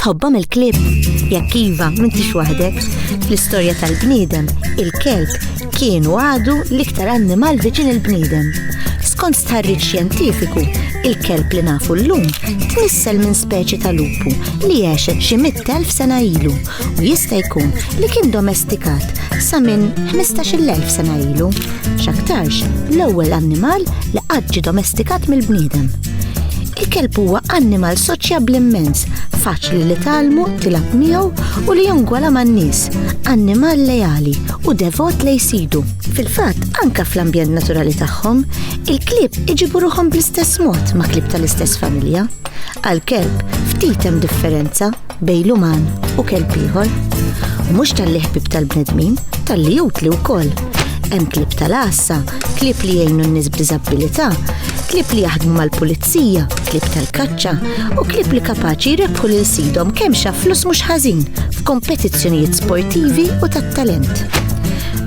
Tħobbhom il-klib? Jekk iva, m'intix waħdek. Fl-istorja tal-bniedem, il-kelb kien u għadu l-iktar annimal viċin il-bniedem. Skont stħarriġ xjentifiku, il-kelb li nafu l-lum tnissel minn speċi tal-lupu li għexet xi mit-telf sena ilu u jista' jkun li kien domestikat sa minn 15,000 sena ilu, x'aktarx l-ewwel annimal li qatt ġie domestikat mill-bniedem. Il-kelb huwa annimal soċjabbli immens, faċli li tgħallmu, tilgħab miegħu u li jongwala man-nies, annimal leali u devot lejn sidu. Fil-fatt, anke fl-ambjent naturali tagħhom, il-klieb iġibu ruħhom bl-istess mod ma' klieb tal-istess familja. Għal kelb, ftit hemm differenza bejn l-uman u kelb ieħor. U mhux tal-li ħbib tal-bnedmin, tal-li utli wkoll. Hemm klib tal-għassa, klib li jgħinu n-nies b'diżabilità, klib li jaħdmu mal-pulizija, klib tal-kaċċa u klib li kapaċi jrebħu lil sidhom kemm xa flus mhux ħażin f'kompetizzjonijiet sportivi u tat-talent.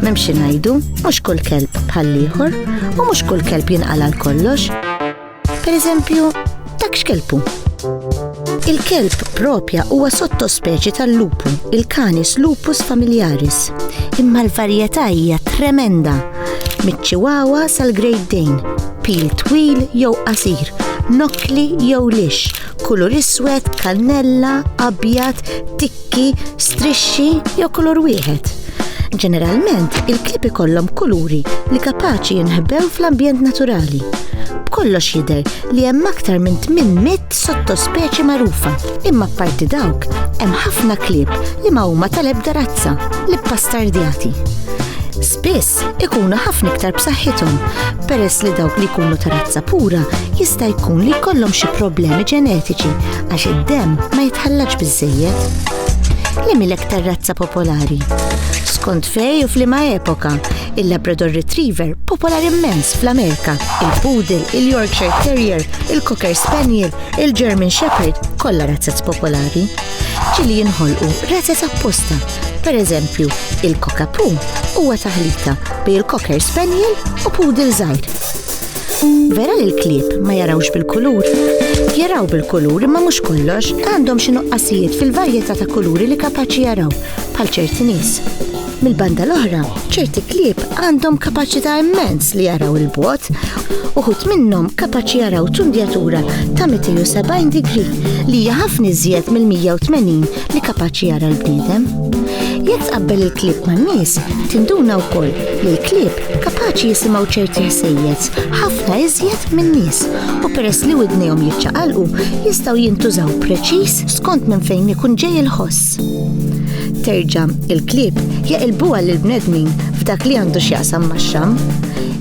Memxi ngħidu, mhux kull kelb bħal ieħor u mhux kull kelb jinqala' kollox. Per eżempju, dak x'kelpu. Il-kelb propja huwa sottospeċi tal-lupu, il-Canis lupus familiaris, imma l-varjetà hija tremenda miċ-Chihuahua sal-Great Dane, pil twil jew qasir, nokli jew lix, kulur iswed, kannella, abjad, tikki, strixxi jew kulur wieħed. Ġeneralment, il-klip ikollhom kuluri li kapaċi jinħbew fl-ambjent naturali. B'kollox jidher li hemm aktar minn 800 sottospeċi magħrufa, imma parti dawk hemm ħafna klip li ma huma tal-ebda razza li ppastardjati. Spiss tal-isport ikunu ħafna iktar b'saħħithom peress li dawk li jkunu ta' razza pura jista' jkun li jkollhom xi problemi ġenetiċi għax id-demm ma jitħallaġ biżejjed. Li milek tar-razza popolari. Skont fej u flima epoka, il-Labrador Retriever popolari immens fl-Amerika, il-Poodle, il-Yorkshire Terrier, il-Cocker Spaniel, il-German Shepherd, kollha razzat popolari. Ġi li jinħolqu reses apposta. Per eżempju, il-Coca Poo huwa taħlita bej il-Cocker Spaniel u Poodle żgħir. Vera li l-klieb ma jarawx bil-kulur. Jaraw bil-kulur imma mhux kollox għandhom xi nuqqasijiet fil-varjetà ta' kuluri li kapaċi jaraw bħal ċerti nies. Mill-banda l-oħra, ċerti klieb għandhom kapaċità immens li jaraw il-bot, uħut minnhom kapaċi jaraw tundjatura ta' 270 digri li hija ħafna iżjed mill-180 li kapaċi jara l-bniedem. Jekk tqabbel il-klieb man-nies, tinduna wkoll li l-klieb kapaċi jisimgħu ċerti ħsejjed ħafna iżjed min-nies u peress li widnejhom jiċċaqalqu jistgħu jintużaw preċiż skont minn fejn ikun ġej il-ħoss. Ġenesis. Terġa', il-klieb jaqilbuha lill-bnedmin f'dak li għandu x'jaqsam max-xamm.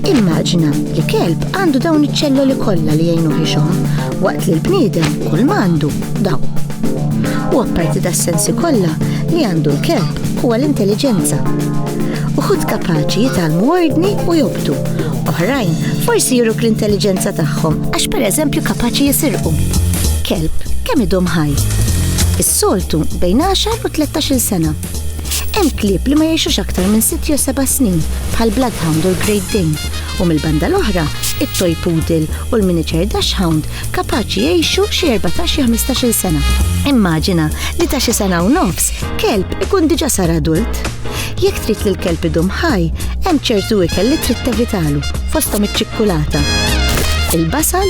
Immaġina li kelb għandu dawn iċ-ċelloli kollha li jgħinuh ixomm, waqt li l-bniedem kull ma għandu daw. U apparti das-sensi kollha li għandu l-kelb huwa l-intelliġenza. Uħud kapaċi jitgħallmu ordni u jobdu, oħrajn forsi juruk l-intelliġenza tagħhom għax pereżempju kapaċi jisirqu. Kelb kemm idum ħaj. Soltu bejn għaxar u tlettax-il sena. Hemm klieb li ma jgħixux aktar minn sitt jew seba' snin, bħall-Bloodhound u l-Great Dane, u mill-banda l-oħra, it-Toy Poodle u l-Miniature Dachshund kapaċi jgħixu xi erbatax jew ħmistax-il sena. Immaġina li ta' xi sena u nofs, kelb ikun diġà sar adult. Jekk trid li l-kelb idum ħaj, hemm ċertu ikel li trid tevitalu. fosthom iċ-ċikkulata, il-basal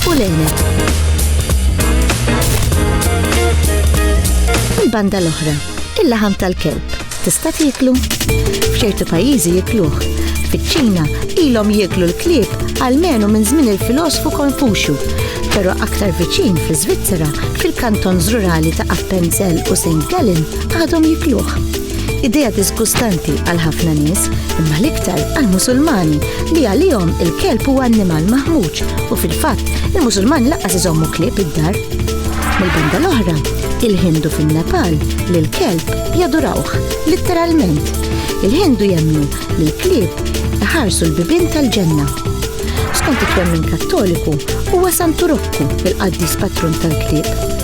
u l-għeneb. Il-banda l-oħra, il-laħam tal-kelb, tista' tieklu? F'ċertu pajjiżi jikluh. Fiċ-Ċina ilhom jieklu l-klieb għalmenu minn żmien il-filosfu Konfuxju, però aktar viċin fl-Iżvizzera fil-kantons rurali ta' Appenzell u St. Gallen għadhom jikluh. Idea disgustanti għal ħafna nies, imma l-iktar għal Musulmani li għalihom il-kelb huwa annimal maħmuġ u fil-fatt il-Musulmani laqqas iżommu klieb id-dar. Mill-banda l-oħra, il-Hindu fin-Nepal li l-kelb jadurawh, litteralment. Il-Hindu jemmnu li l-klieb iħarsu l-bibin tal-ġenna. Skont it-twemmin Kattoliku, huwa Santu Rokku il-qaddis patrun tal-klieb.